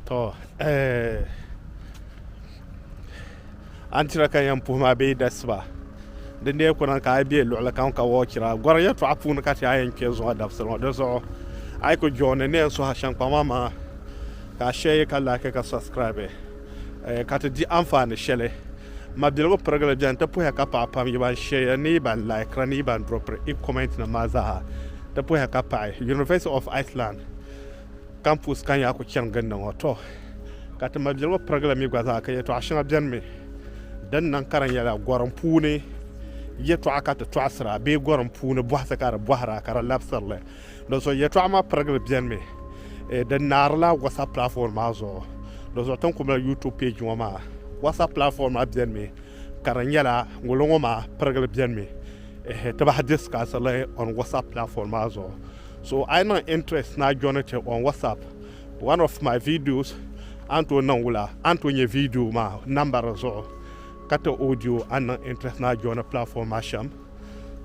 to eh an tira ka yɛn puhi maa bee dasiba din dee kuna ka a bɛ luɣuli kam ka wɔɔchira gɔri yɛtɔɣa puuni ka ti a yɛn kpɛ zuɣu dabisili ŋɔ di zuɣu a yi ku jooni ni yɛn suha shɛŋ kpaŋ maa maa ka a shɛyi ka laaki ka subscribe eh, ka ti di anfaani shɛli mabiligu pirigili bɛni ti puhiya ka paɣa pam yi ban shɛya ni yi ban laikira ni yi ban dropiri i comment nim maa zaaha ti puhiya ka paɣi University of Iceland Campus ka n yaa ku chani gindi ŋɔ. Tɔ! Ka ti ma biligu pirigi li mi gba zaa ka yɛtɔɣa shɛŋa beni mi din niŋ ka di nyɛla gɔrim puuni yɛtɔɣa ka ti tɔɣisira bee gɔrim puuni bɔhisi ka di bɔhira ka di labisiri li. Dinzuɣu yɛtɔɣa maa pirigi li beni mi eh, di naari la WhatsApp platform maa zuɣu. Dinzuɣu ti ni ku mali YouTube page ŋɔ maa, WhatsApp platform maa beni mi ka di nyɛla ŋolo ŋɔ maa pirigi li beni mi eh, ti bahi discussiri li on WhatsApp platform maa zuɣu. So a yi niŋ interest ni a joini ti on WhatsApp one of my videos a ni tooi niŋ wula a ni tooi nyɛ video maa number di zuɣu ka ti audio a ni niŋ interest ni a joini platform maa shɛm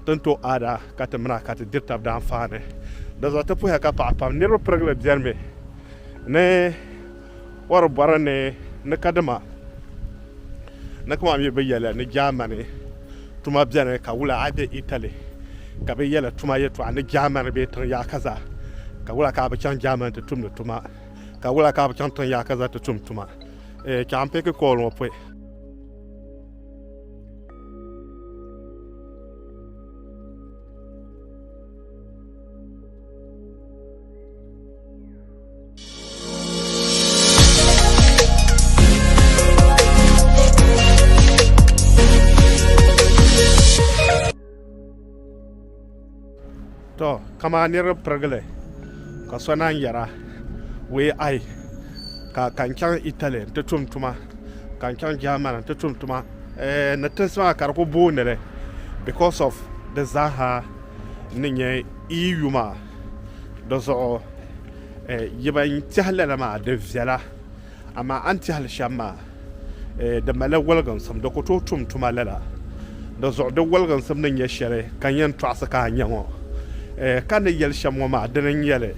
ti ni tooi add a ka ti mini a ka ti diri tab daanfaani di zuɣu ti puhiya ka paɣa pam niriba pirigili bɛni mi ni Wari bɔri ni ni kadima na kama mi bɛ yɛli ni Jaamani tuma beni ka wula a be Itali ka bɛ yɛli tuma yɛtɔɣa ni Jaamani bee tiŋ yaakaza ka wula ka a bi chaŋ Jaamani ti tumdi tuma ka wula ka a bi chaŋ tiŋ yaakaza ti tum tuma eh, ka n piki kool ŋɔ pɔi. to kama niriba pirigili ka so naan yɛra wee ai ka ka n chaŋ italy n ti tum tuma ka n chaŋ german n ti tum tuma eh, ni tinsi maa ka di ku booni li because of di zaaha ni nyɛ eu maa di zuɣu yi ban tehi lala maa di viɛla amaa a ni tehi li shɛm maa di malila woliginsim di ku tooi tum tuma lala di zuɣu di woliginsim ni nyɛ shɛli ka yɛn tɔɣisi ka a nya ŋɔ ka ni yɛli shɛm ŋɔ maa dini n-nyɛ li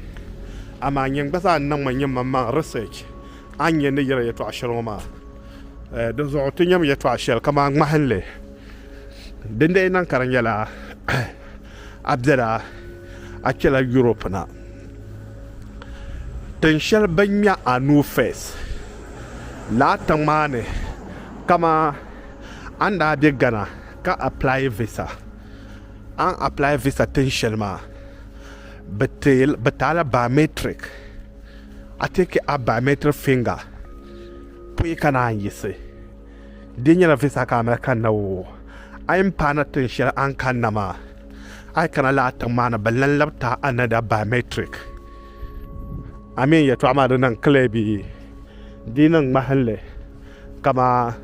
amaa nyini gba zaa niŋ mi nyimaŋmaŋ research a ni nya ni yɛli yɛtɔɣ shɛli ŋɔ maa di zuɣu ti nyami yɛtɔɣ shɛli kamani ŋmahinli dindee niŋ ka di nyɛla A bela a kpela Europe na tin sheli bini nya a nuu first la a tiŋmaani kaman a ni daa be Ghana ka apply visa a ni apply visa tin sheli maa bɛ ti a la biometric a take a biometric finger puyi ka naan yiɣisi. Di nyɛla visa ka a mali kanna o. A yi ni paana tiŋ shɛli a ni kanna maa, a yi kana lala tiŋ maa ni, bɛ lan labi ti a another biometric. A mi yɛtɔɣa maa di niŋ clear bee? Di yi niŋ ŋmahinli kaman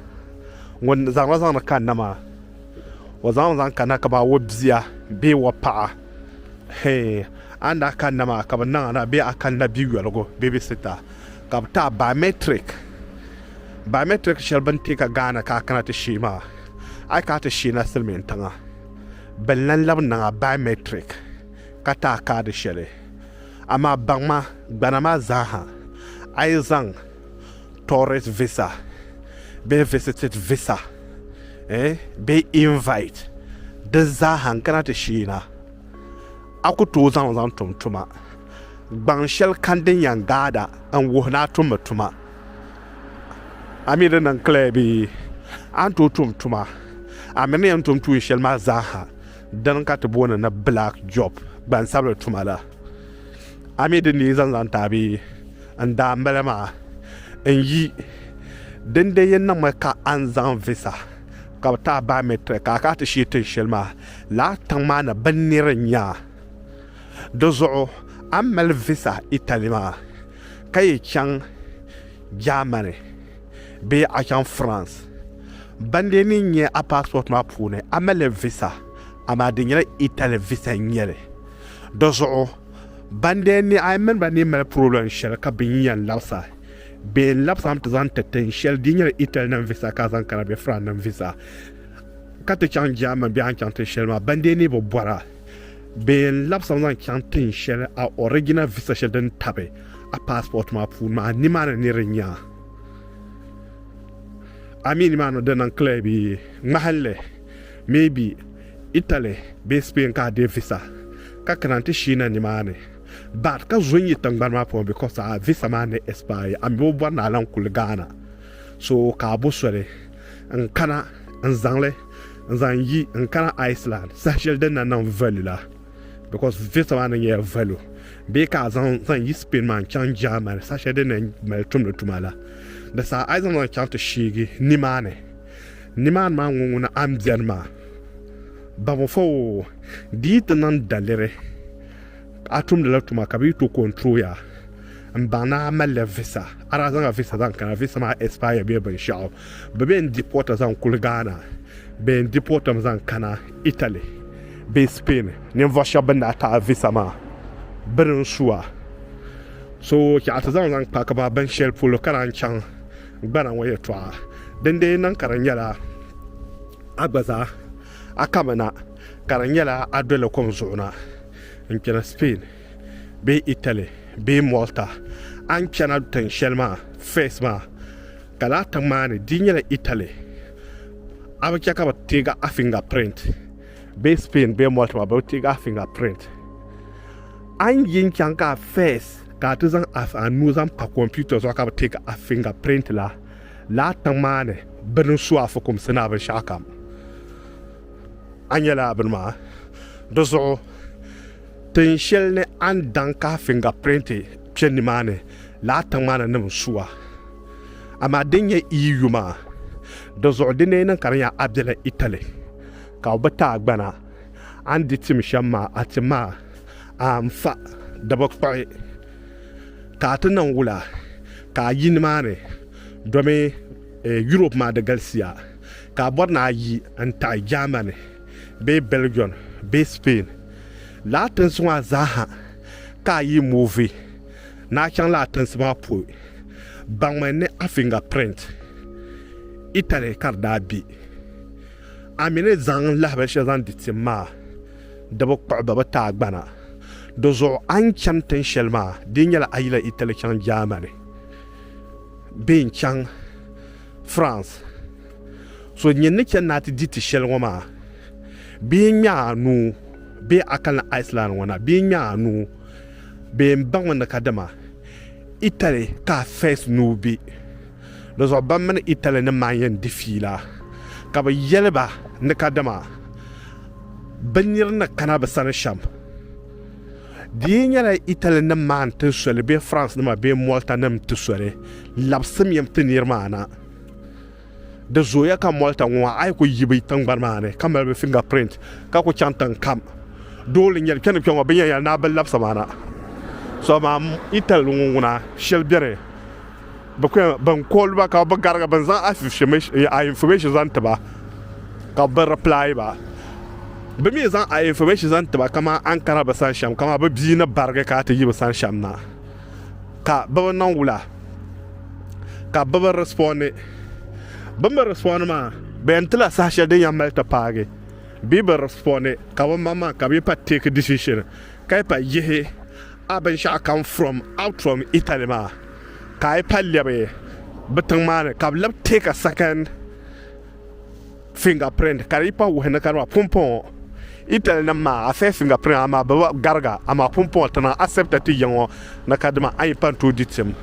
ŋun zaŋ la zaŋdi kanna maa, o zaŋmi zaŋ kanna kaman o bia bee o paɣa. Hee, a ni daa kanna maa ka bɛ niŋ a na bee a kanila biyoligu, babysitter. ka bɛ taai biometric biometric shɛli bɛ ni ti ka Ghana ka a kana ti sheei maa a yi ka a ti sheei na silimiin tiŋa bɛ ni lan labi niŋ a biometric ka taai kaadi shɛli amaa baŋ ma gbana maa zaa ha a yi zaŋ tourist visa bee visited visa eh bee invite di zaa ha n-kana ti sheei na a ku tooi zaŋ li zaŋ tum tuma. Gbaŋ shɛli kam din yɛn gaada n wuhi ni a tummi tuma. A mi di niŋ clear bee? A ni tooi tum tuma, a miri ni yɛn tum tuun shɛli maa zaaha din ka ti booni ni black job, gbansabili tuma la. A mi di nii zaŋ zaŋ ti a bee? N daa mali maa. N yi, dindee yi niŋmi ka a ni zaŋ visa ka bi ti a biometric ka a kana ti shee tin shɛli maa, lala tiŋ maa ni binniri n-nyɛ a. Di zuɣu a ni mali visa Italy maa ka yi chaŋ Germany bee a chaŋ France, bandee ni nyɛ a passport maa puuni a mali visa amaa di nyɛla Italy visa n nyɛli. Di zuɣu bandee ni a mini ba ni mali problem shɛli ka bɛ yɛn labis a bee n labis a nti zaŋ ti tin shɛli di nyɛla Italy nim visa ka a zaŋ kana bee France nim visa ka ti chaŋ Germany bee a ni chaŋ tin shɛli maa bandee ni bi bɔra. Bɛ yɛn labisimi zaŋ chaŋ tin shɛli a original visa shɛli din tabi a passport maa puuni maa nimaani ni di nya a mi nimaani di niŋ clear bi ŋmahinli maybe Italy bee Spain ka a deei visa ka kana nti shiina nimaani but ka zo n-yi tingbani maa puuni because a visa maa ni expire a mi o bɔri ni a lan kuli Ghana so ka a bo soli n-kana n-zaŋli n zaŋ yi n kana Iceland saha shɛli din na niŋ value la because visa maa na nyɛla value bee ka a zaŋ zaŋ yi Spain maa n chaŋ Germany saha shɛli din na mali tumdi tuma la di saha a yi zaŋ zaŋ chaŋ ti sheegi nimaani nimaani maa ŋɔ ŋuna a ni bɛni maa baŋfo o di yi ti niŋ daliri a tumdila tuma ka bi yi to control ya n baŋ ni a malila visa a daa zaŋla visa zaŋ kana visa maa expire bee binshaɣu Bɛ bee n-di pɔɔta zaŋ kuli Ghana, bee n-di pɔɔtam zaŋ kana Italy bee Spain. Ninvuɣ shɛb bɛn daa taai visa maa biri n-su a. So ka a ti zaŋ zaŋ kpahigi ba bin shɛli polo ka daa n-chaŋ gbana ŋɔ yɛtɔɣa. Din dee niŋ ka di nyɛla a gba zaa a kami na ka di nyɛla a doli kom zuɣu na n-kpɛna Spain. bee Italy bee Malta, a ni chana tiŋ shɛli maa Fez maa, ka lala tiŋ maa ni di nyɛla Italy, a bi chɛ ka bɛ teeg a finger print, bee Spain bee Malta maa bɛ bi teeg a finger print. A ni yin chaŋ ka Fez ka a ti zaŋ a a nuu zaŋ pa computer zuɣu ka bɛ teeg a finger print la, lala tiŋ maa ni bɛ ni su a fukumsi ni a binshɛɣu kam, a nyɛla bini maa di zuɣu. Tin shɛli ni a ni daŋ ka a fingapirinti kpe nimaani la a tiŋmaana nim n-su a. Amaa din nyɛ i yi yuma di zuɣu di ni yi niŋ ka di nya a bela Italy ka o bi ti a gbana, a ni di tim shɛm maa a ti ma a n-fa di bi kpuɣi ka a ti niŋ wula ka a yi nimaani domi Europe maa di galisiya ka a bɔri ni a yi n-taɣi Germany. bee Belgium bee Spain lala tinsi ŋɔ zaaha ka a yi mooi ni a chaŋ lala tinsi maa polo, baŋmi ni a finger print Italy ka di daa be. A mi ni zaŋ lahi binshɛli zaŋ di tim maa, di bi kpuɣi bɛ bi ti a gbana. Di zuɣu a ni chani tin shɛli maa, di nyɛla a yi lahi Italy chaŋ Germany bee n-chaŋ France, so nyin ni chani ni a ti di ti shɛli ŋɔ maa, bee n-ŋme a nuu, bee a kani Iceland ŋɔ na, bee n-ŋme a nuu, bee m baŋmi ni kadama Italy ka a first nuu be. Dizuɣu ban mini Italy nim maa yɛn di fiila, ka bɛ yɛli ba ni kadama bɛ nir ni kana bɛ sani shɛm. Di yi nyɛla Italy nim maa n ti soli bee France nima bee Malta nim n ti soli, labsim yam ti niriba maa na. Di zooya ka Malta ŋɔ maa a yi ku yi bɛ tiŋgbani maa ni ka mali bɛ finger print ka ku chaŋ tiŋ kam doo li nyɛli kpɛni kpɛŋɔ bɛ yɛn yɛli ni a bi labisi ma na. So amaa Italy ŋɔ ŋuna shɛli beni Bɛ kuli nyɛla ban call ba ka bɛ garigi bɛ ni zaŋ a information zaŋ ti ba ka bɛ reply ba. Bɛ mi zaŋ a information zaŋ ti ba kamani a ni kana bɛ sani shɛm kamani bɛ bia ni barigi ka a ti yi bɛ sani shɛm na ka bɛ bi niŋ wula ka bɛ bi respondi. Bɛ ni bi respondi maa bɛ yɛn tila saha shɛli din yɛn mali ti paagi bee bɛ respondi ka bɛ maŋmaŋ ka bɛ yi pa take decision ka yi pa yihi a binshɛɣu kam from out from Italy maa ka a yi pa lɛbi bi tiŋ maa ni ka bi labi take a second finger print ka di yi pa wuhi ni ka di maa pumpɔŋɔ Italy nim maa a first finger print amaa bi gariga amaa pumpɔŋɔ ti niŋ accept ti yiŋɔ ni ka dima a yi pa n tooi di tim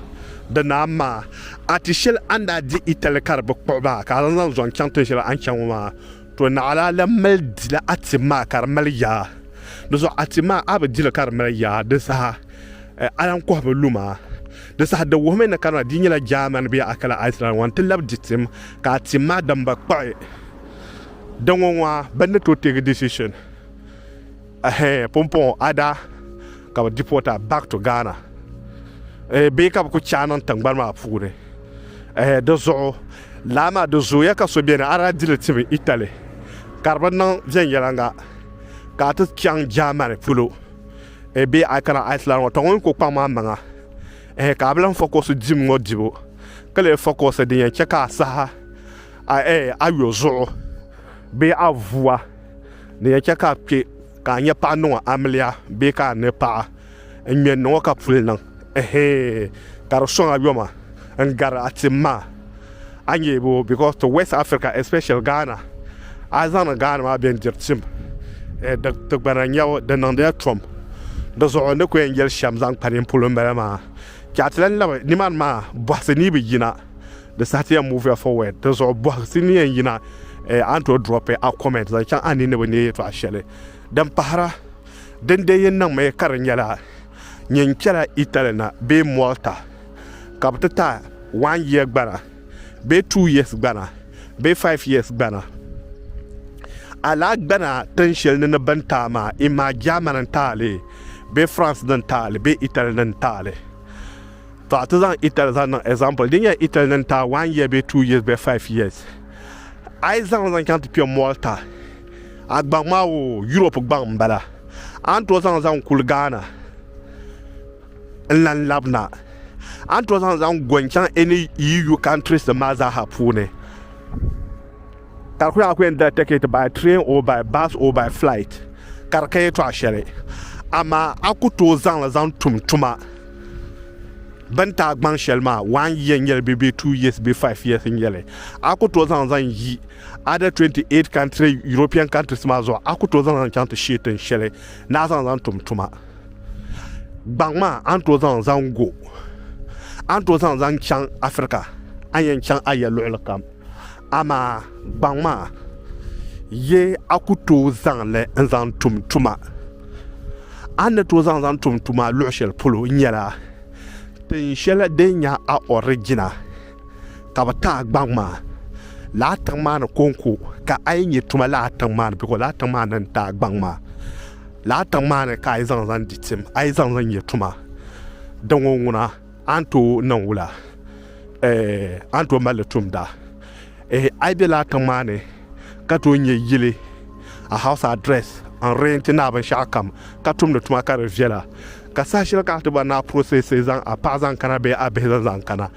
di naa maa a ti shɛli a ni daa di Italy ka di bi kpuɣi ba ka a zaŋ zaŋ zɔŋ chaŋ tin shɛli a ni chaŋ ŋɔ maa To naɣila a lan mali dila a tim maa ka di mali yaa. Di zuɣu a tim maa a bi dili ka di mali yaa, di saha a lan kɔhi bi luma. Di saha di wuhimi ni kanana di nyɛla Jaamani bee Akila Aislan ŋɔ n-ti labi di tim ka a tim maa damba kpuɣi. Di ŋɔ ŋɔ a bi ni to teegi decision. Ɛhɛɛ pumpɔŋɔ a daa ka bɛ deport a back to Ghana ɛɛ bee ka bɛ ku chaai niŋ tiŋgbani maa puuni ɛhɛɛ di zuɣu lala maa di zooya ka so beni a daa di li ti mi Italy ka di bi niŋ viɛnyɛliŋga ka a ti chaŋ Germany polo ɛɛ bee a kana Iceland ŋɔ tɔ ŋɔ yi ku kpaŋ ma maŋa ɛhɛɛ ka a bi lahi focus dim ŋɔ dibu ka lee focus din yɛn chɛ ka a saha a ɛɛ ayo zuɣu bee a vua. Ni yɛn chɛ ka a kpe ka a nya paɣa niŋɔ amiliya bee ka a ni paɣa n-ŋme n-niŋɔ ka puli niŋ, ɛhee, ka di sɔŋ a yoma n-gari a tim maa. A ni yɛli bɔ because to West Africa especially Ghana, a yi zaŋdi Ghana maa bɛndiri tim di tigbana n-nyɛbu, di niŋdila tom. Di zuɣu n ni kuli yɛn yɛli shɛm zaŋ kpa nini polo m-bala maa. Chɛ a ti lan labi nimani maa bɔhisi ni yi bi yina. Di saha ti yɛn move ya forward di zuɣu bɔhisi ni yɛn yina eh, a ni tooi drop a comment zaŋ chaŋ a ni ni bi neei yɛtɔɣa shɛli din pahira din dee yi niŋmi ka di nyɛla nyɛ n-chɛla Italy na bee Malta ka bi ti ta one year gbana bee two years gbana bee five years gbana a lahi gbana tin shɛli ni ni bini taai maa imaa German n-taali bee France ni n-taali bee Italy ni n-taali. Tɔ, ti zaŋ Ethel zaŋ niŋ example. Di nyɛla Ethel ni taai one year bee two years bee five years. A yi zaŋ li zaŋ chaŋ ti kpe Malta, a gbaŋ maa o Europe gbaŋ m bala. A ni tooi zaŋ li zaŋ kuli Ghana n lan lab na. A ni tooi zaŋ li zaŋ go n chaŋ any EU countries nim maa zaa ha puuni. Ka di ku nyɛla a ku yɛn dila ticket by train or by bus or by flight ka di ka yɛltɔɣa shɛli. Amaa a ku tooi zaŋ li zaŋ tum tuma. bɛ ni taai gbaŋ shɛli maa one year n-nyɛli bee bee two years bee five years n-nyɛli a ku tooi zaŋ zaŋ yi other 28 country European countries maa zuɣu a ku tooi zaŋ zaŋ chaŋ ti shee tin shɛli ni a zaŋ zaŋ tum tuma gbaŋ maa a ni tooi zaŋ zaŋ go a ni tooi zaŋ zaŋ chaŋ Africa a ni yɛn chaŋ a ya luɣili kam Amaa gbaŋ maa ye a ku tooi zaŋ li n-zaŋ tum tuma. A ni tooi zaŋ zaŋ tum tuma luɣ shɛli polo nyɛla tin shɛli din nyɛ a ɔriginal ka bɛ ti a gbaŋ maa lala tiŋ maa ni kɔŋko ka a yi nya tuma lala tiŋ maa ni bikos lala tiŋ maa ni n-ti a gbaŋ maa lala tiŋ maa ni ka a yi zaŋ zaŋ di tim a yi zaŋ zaŋ nya tuma. Di ŋɔ ŋuna. A ni tooi niŋ wula? Eh, a ni tooi mali li tumda? Eh, a yi be lala tiŋ maa ni ka tooi nya yili, a house address, n renti ni a binshɛɣu kam ka tumdi tuma ka di viɛla, ka saha shɛli ka a ti bɔri ni a processi zaŋ a paɣa zaŋ kana bee a bihi zaŋ zaŋ kana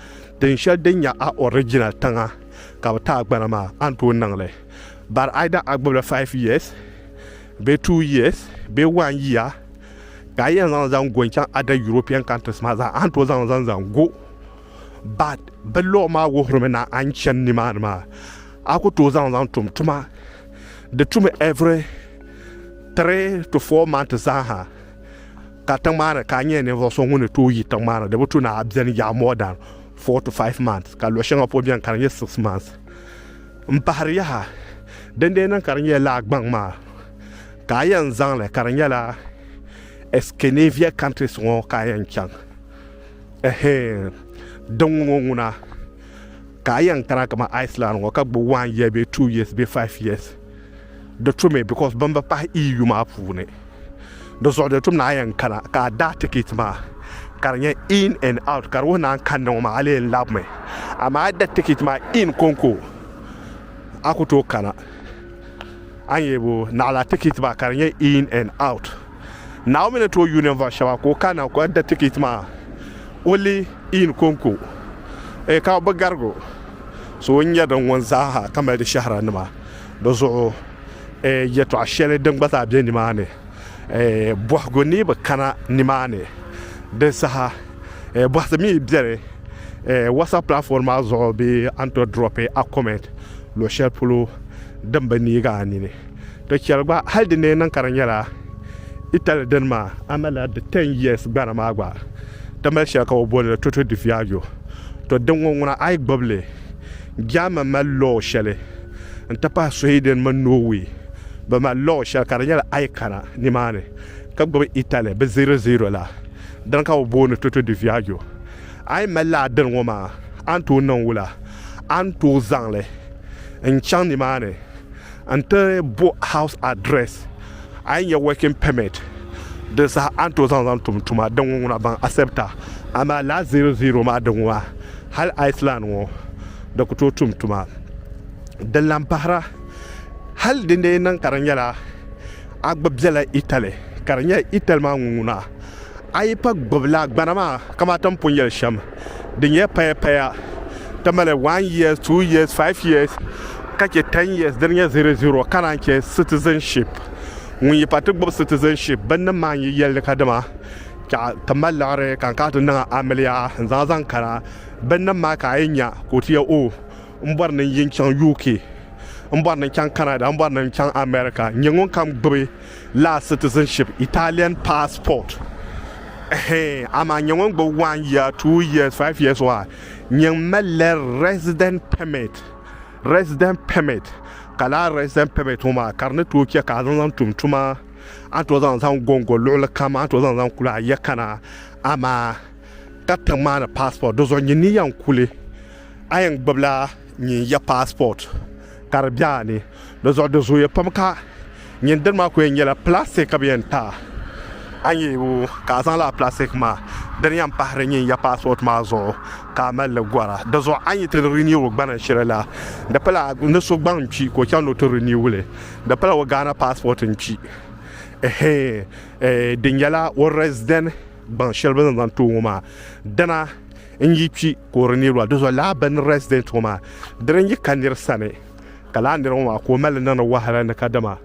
tin shɛli din nyɛ a original tiŋa ka bɛ ti a gbana maa, a ni tooi niŋ li. But either a gbibila five years bee two years bee one year, Ka a yɛn zaŋ li zaŋ go n-chaŋ other European countries maa zaa, a ni tooi zaŋ li zaŋ zaŋ go. But bɛ law maa wuhirimi na a ni chani nimaani maa, a ku tooi zaŋ li zaŋ tum tuma. Di tumi every three to four months zaaha ka tiŋmaani ka a nyɛ ninvuɣ so ŋun ni tooi yi tiŋmaani. Di bi tu ni a beni yaɣi more than four to five months, ka luɣ shɛŋa pɔi beni ka di nyɛ six months. M-pahiri yaha, dindee niŋ ka di nyɛla laa gbaŋ maa. ka a yɛn zaŋ li ka di nyɛla Eskenavia countries ŋɔ ka a yɛn chaŋ ɛhɛɛn din ŋɔ ŋuna ka a yɛn kana kama Iceland ŋɔ ka gbubi one year bee two years bee five years di tumi because bin bi pahi EU maa puuni di zuɣu di tum ni a yɛn kana ka a daa ticket maa ka di nyɛ in and out ka di wuhi ni a ni kanni ŋɔ maa a lee labimi amaa a da ticket maa in konko a ku tooi kana A yi bo naɣila tikiti maa ka di nyɛ in and out. Naomi ni tooi yuui ninvuɣu shɛba ka o kana ka da tikiti maa o li in konko ee ka bi garigo so n-nyɛ din ŋun zaa ha ka mali di shɛhira nima di zuɣu ee yɛtɔɣa shɛli din gba zaa be nimaani ee bɔhigu ni bi kana nimaani di saha ee bɔhisi mi beni ee WhatsApp platform maa zuɣu bee a ni tooi dropi a comment. Luɣ shɛli polo din bi neeg a nini ti chɛli gba, hal di ni yɛn niŋ ka di nyɛla Itali dini maa, a malila di ten years gbana maa gba, ti mali shɛli ka bɛ booni li Toto di Viaggio. Tɔ din ŋɔ ŋuna a yi gbibi li, German mali law shɛli n-ti pahi Sweden mini Norway, bɛ mali law shɛli ka di nyɛla a yi kana nimaani ka gbibi Itali bɛ zero zero la, dini ka bɛ booni Toto di Viaggio. A yi mali la a dini ŋɔ maa, a ni tooi niŋ wula? A ni tooi zaŋ li n-chaŋ nimaani n-ti bo house address. A yi nya working permit din saha a ni tooi zaŋ zaŋ tum tuma din ŋɔ ŋuna baŋ accept a. Amaa lala zero zero maa din ŋɔ maa, hali Iceland ŋɔ di ku tooi tum tuma. Din lan pahira, hali di ni lee niŋ ka di nyɛla a gba bela Italy, ka di nyɛla Italy maa ŋun ŋuna. A yi pa gbubi la gbana maa kamaa ti ni pun yɛli shɛm, di nyɛla paya paya, ti mali one years, two years, five years ka chɛ ten years di ni nyɛ zero zero ka naan chɛ citizenship. Ŋun yi pa ti gbubi citizenship binnim maa n-yi yɛli ni kadama ka ti mali liɣiri ka n kana ti niŋ amiliya n zaŋ a zaŋ kana binnim maa ka a yi nya ka o ti yɛli oh m bɔri ni n yi chaŋ UK, m bɔri ni n chaŋ Canada, m bɔri ni n chaŋ America n-nyɛ ŋunkam gbubi la citizenship, Italian passport, eeh amaa nyɛ ŋun gbubi one year, two years, five years wa nyɛ n malila resident permit, resident permit, ka laa resident permit ŋɔ maa ka di ni tooi chɛ ka a zaŋ zaŋ tum tuma, a ni tooi zaŋ zaŋ gɔngɔ luɣili kam, a ni tooi zaŋ zaŋ kuli a ya kana, amaa ka tiŋ maa ni passport, di zuɣu nyin ni yɛn kuli a yɛn gbubila nyin ya passport. ka di be a ni di zuɣu di zooya pam ka nyin dini maa kuli nyɛla plastic ka bɛ yɛn ti a a nya o ka a zaŋ lala plastic maa dini yɛn pahiri nyin ya passport maa zuɣu ka a mali li gɔra di zuɣu a ni yi ti renew o gbana shɛli la di pala ni so gbaŋ kpi ka o chaŋ ni o ti renew li di pala o Ghana passport n kpi ehe e di nyɛla o resident Gbaŋ shɛli bɛ ni zaŋ ti o ŋɔ maa, dina n-yi kpi ka o di niriba la, dozɔ lala bɛ ni resident ŋɔ maa dini n-yi ka nir sani ka lala nir ŋɔ maa ka o mali li niŋdi wahala ni kadama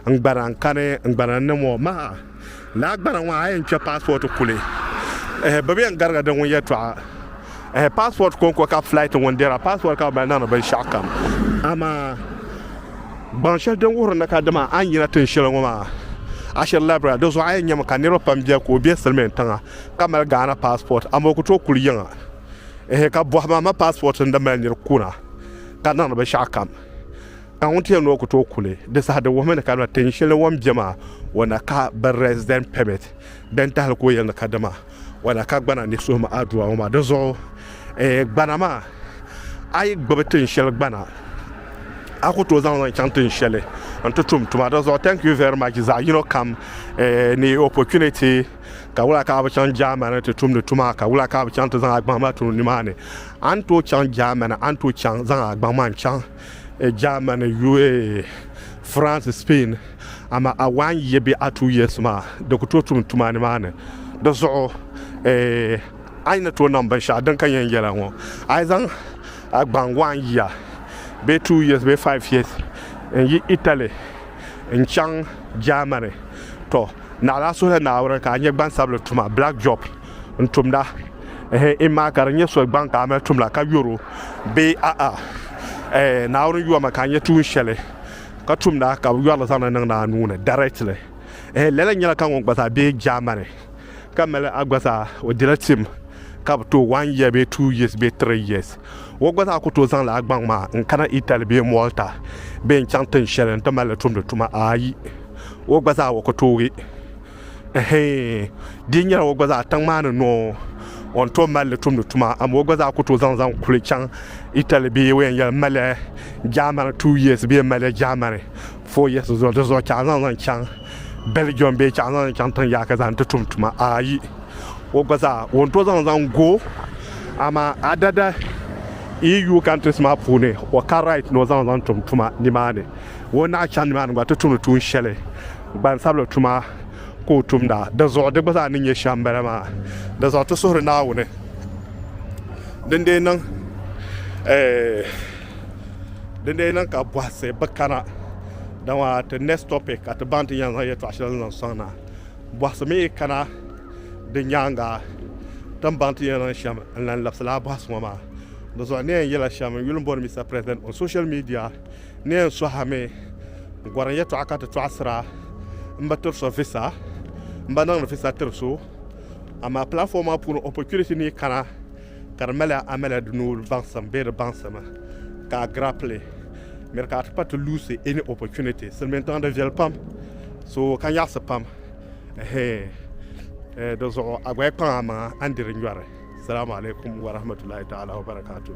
n gbana n-kani n gbana ni ŋɔ maa. Lala gbana ŋɔ a yɛn kpe passport kuli ehe bɛ bi yɛn gariga di ŋun yɛltɔɣa. Ehe passport konko ka flight ŋun dira passport ka bɛ niŋdi binshaɣu kam amaa gbaŋ shɛli din wuhiri ni ka dama a ni yina tin shɛli ŋɔ maa ashiri labira di zuɣu a yɛn nyɛmi ka niriba pam bɛ ka o bɛ silimiin tiŋa ka mali Ghana passport amaa o ku tooi kuli yiŋa ehe ka bɔhi ma ma passport n di mali niri kuna ka niŋdi binshaɣu kam ka ŋun ti yɛn ni o ku tooi kuli di saha di wuhimi ni ka dama tin shɛli o ni bɛ maa o na ka bi resident permit din tahili ka o yɛli ni ka dama Wala ka gbana ni suhim adua ŋɔ maa? Dinzuɣu eeh gbana maa, a yi gbibi tin shɛli gbana, a ku tooi zaŋ li chaŋ tin shɛli n-ti tum tuma. Dinzuɣu thank you very much zaɣ yino kam eeh ni opportunity ka wula ka a bi chaŋ Germany ti tumdi tuma ka wula ka a bi chaŋ ti zaŋ a gbaŋ maa tum nimaani? A ni tooi chaŋ Germany, a ni tooi chaŋ zaŋ a gbaŋ maa n-chaŋ. Germany, UA, France, Spain, amaa a waan ya bee a tuui Yesu maa, di ku tooi tum tuma nimaani. Di zuɣu a yi ni tooi niŋ binshɛɣu din ka yɛn yɛla ŋɔ, a yi zaŋ a gbaŋ waan yia bee two years bee five years n-yi Italy n-chaŋ Germany, tɔ! Naɣila a suhili Naawuni ka a nya gbansabili tuma, black job. n tumda ehe imma ka di nyɛ so gbaŋ ka a mali tumda ka yɔr o bee a'a eh, Naawuni yɔmi ka a nyɛ tuun shɛli ka tumda ka bɛ yɔr li zaŋdi niŋdi a nuu ni directly ehe lala nyɛla ka ŋun gba zaa be Germany ka mali a gba zaa o dila tim ka bi tooi one year bee two years bee three years o gba zaa ku tooi zaŋla a gbaŋ maa n kana Italy bee Malta bee n chaŋ tin shɛli n ti mali li tumdi tuma ayi o gba zaa o ku tooi Ɛhɛɛn! Di yi nyɛla o gba zaa tiŋ maa ni noo o ni tooi mali li tumdi tuma, amaa o gba zaa ku tooi zaŋ zaŋ kuli chaŋ Italy bee o yɛn yɛli maliya Germany two years bee maliya Germany four years zuɣu di zuɣu chaɣu zaŋ zaŋ chaŋ Belgium bee chaɣu zaŋ zaŋ chaŋ tiŋ yaaka zaa nti tum tuma ayi o gba zaa o ni tooi zaŋ zaŋ go amaa adada EU countries maa puuni o ka right ni o zaŋ zaŋ tum tuma nimaani o ni naai chaŋ nimaani gba ti tumdi tuun shɛli Gbansabila tuma ka o tumda. Dinzuɣu di gba zaa ni nyɛ shɛm m-bala maa. Dinzuɣu ti suhiri Naawuni din dee niŋ din dee niŋ ka bɔhisi bi kana. Dama ti next topic ka ti baŋ ti ni yɛn zaŋ yɛltɔɣa shɛli zaŋ sɔŋ na. Bɔhisi mi yi kana di nyaaŋa ti ni baŋ ti ni yɛn niŋ shɛm n-lan labisila bɔhisi ŋɔ maa. Dinzuɣu n ni yɛn yɛla shɛm n-yuli m-bɔri Mister President on social media. Ni yɛn suhi mi n gɔrim yɛtɔɣa ka ti tɔɣisira m bi tiri so visa m bi niŋdi visa tiri so amaa platform maa puuni opportunity ni kana ka di mali amala di nuu baŋsim bee di baŋsim ka a grapple miri ka a ti pa ti luusi any opportunity silimiin tiŋa di viɛli pam so ka nyaɣisi pam ɛhɛɛ di zuɣu a gba yi kpaŋ a maŋa a ni diri nyɔri salamu alaikum warahmatullahi ta'ala wabarakatuh.